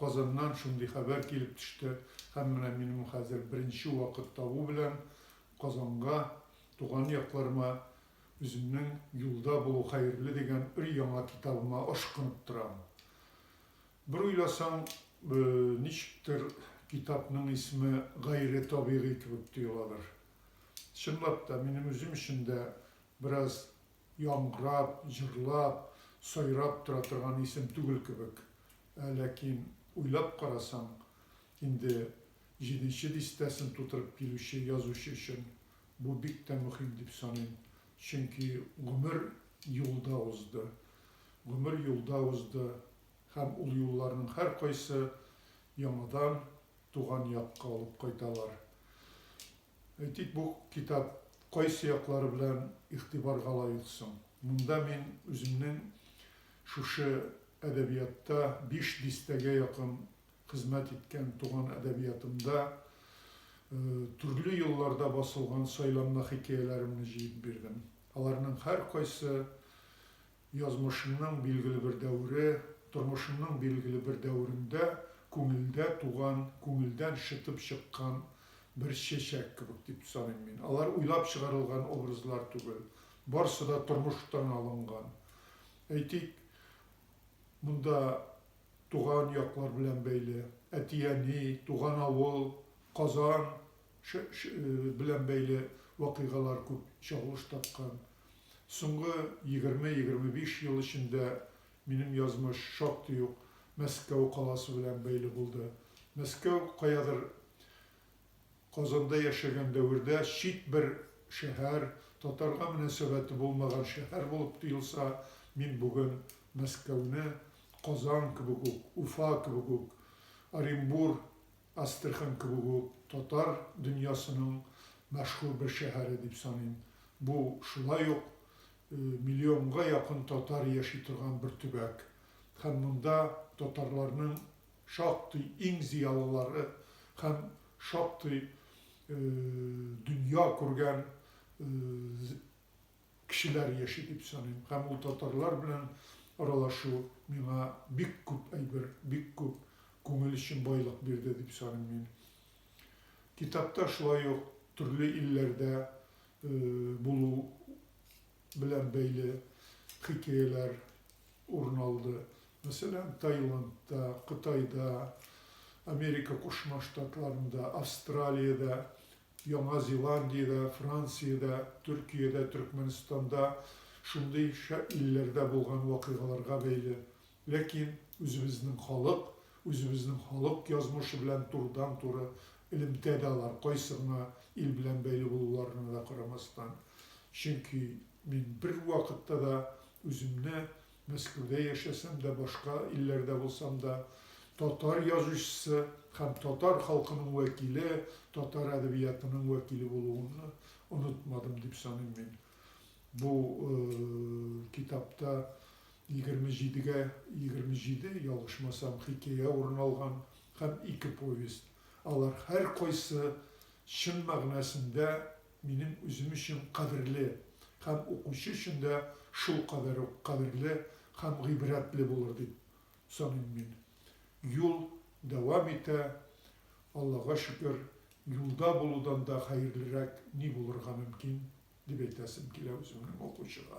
Казаннан шундый хәбәр килеп төште һәм менә минем хәзер беренче вакыт табу белән Казанга, туган якларыма үземнең Юлда булу хәерле дигән өр-яңа китабыма ашкынып торам. Бер уйласаң, ничектер, китапның исеме гайре табигый кебек тоеладыр. Чынлап та, минем үзем өчен дә бераз яңгырап, җырлап, сайрап тора торган исем түгел кебек. Ә ләкин, уйлап карасаң, инде җиденче дистәсен тутырып килүче язучы өчен бу бик тә мөһим дип саныйм. Чөнки гомер юлда узды. Гомер юлда узды һәм ул юлларның һәркайсы яңадан туган якка алып кайталар. Әйтик, бу китап кайсы яклары белән игътибарга лаек соң? Монда мин үземнең шушы әдәбиятта биш дистәгә якын хезмәт иткән туган әдәбиятымда төрле елларда басылган сайланма хикәяләремне җыеп бирдем. Аларның һәркайсы Язмышымның билгеле бер дәвере, тормышымның билгеле бер дәверендә күңелдә туган, күңелдән шытып чыккан бер чәчәк кебек дип саныйм мин. Алар уйлап чыгарылган образлар түгел, барсы да тормыштан алынган. Әйтик, монда туган яклар белән бәйле, әти-әни, туган авыл, Казан белән бәйле вакыйгалар күп чагылыш тапкан. Соңгы егерме-егерме биш ел эчендә минем язмыш шактый ук Мәскәү каласы белән бәйле булды. Мәскәү каядыр Казанда яшәгән дәвердә чит бер шәһәр, татарга мөнәсәбәте булмаган шәһәр булып тоелса, мин бүген Мәскәүне Казан кебек үк, Уфа кебек үк, Оренбур Астрахань кебек үк татар дөньясының мәшһүр бер шәһәре дип саныйм. Бу шулай ук миллионга якын татар яши торган бер төбәк. Һәм монда татарларның шактый иң зыялылары һәм шактый дөнья күргән кешеләр яши дип саныйм һәм ул татарлар белән аралашу миңа бик күп әйбер, бик күп күңел өчен байлык бирде дип саныйм мин. Китапта шулай ук төрле илләрдә булу белән бәйле хикәяләр урын алды. Мәсәлән, Таиландта, Кытайда, Америка Кушма Штатларында, Австралиядә Яңа Зеландиядә, Франциядә, Төркиядә, Төркмәнстанда, шундый шәп илләрдә булган вакыйгаларга бәйле. Ләкин үзебезнең халык, үзебезнең халык язмышы белән турыдан-туры элемтә дә алар, кайсы гына ил белән бәйле булуларына да карамастан. Чөнки мин бервакытта да үземне Мәскәүдә яшәсәм дә, башка илләрдә булсам да, татар язучысы һәм татар халкының вәкиле, татар әдәбиятының вәкиле булуымны онытмадым дип саныйм мин. Бу китапта 27 гә 27, ялгышмасам, хикәя урын алган һәм ике повесть. Алар һәркайсы чын мәгънәсендә минем үзем өчен кадерле һәм укучы өчен дә шулкадәр үк кадерле һәм гыйбрәтле булыр дип саныйм мин. Юл дәвам итә, Аллага шөкер, юлда булудан да хәерлерәк ни булырга мөмкин, дип әйтәсем килә үземнең укучыга.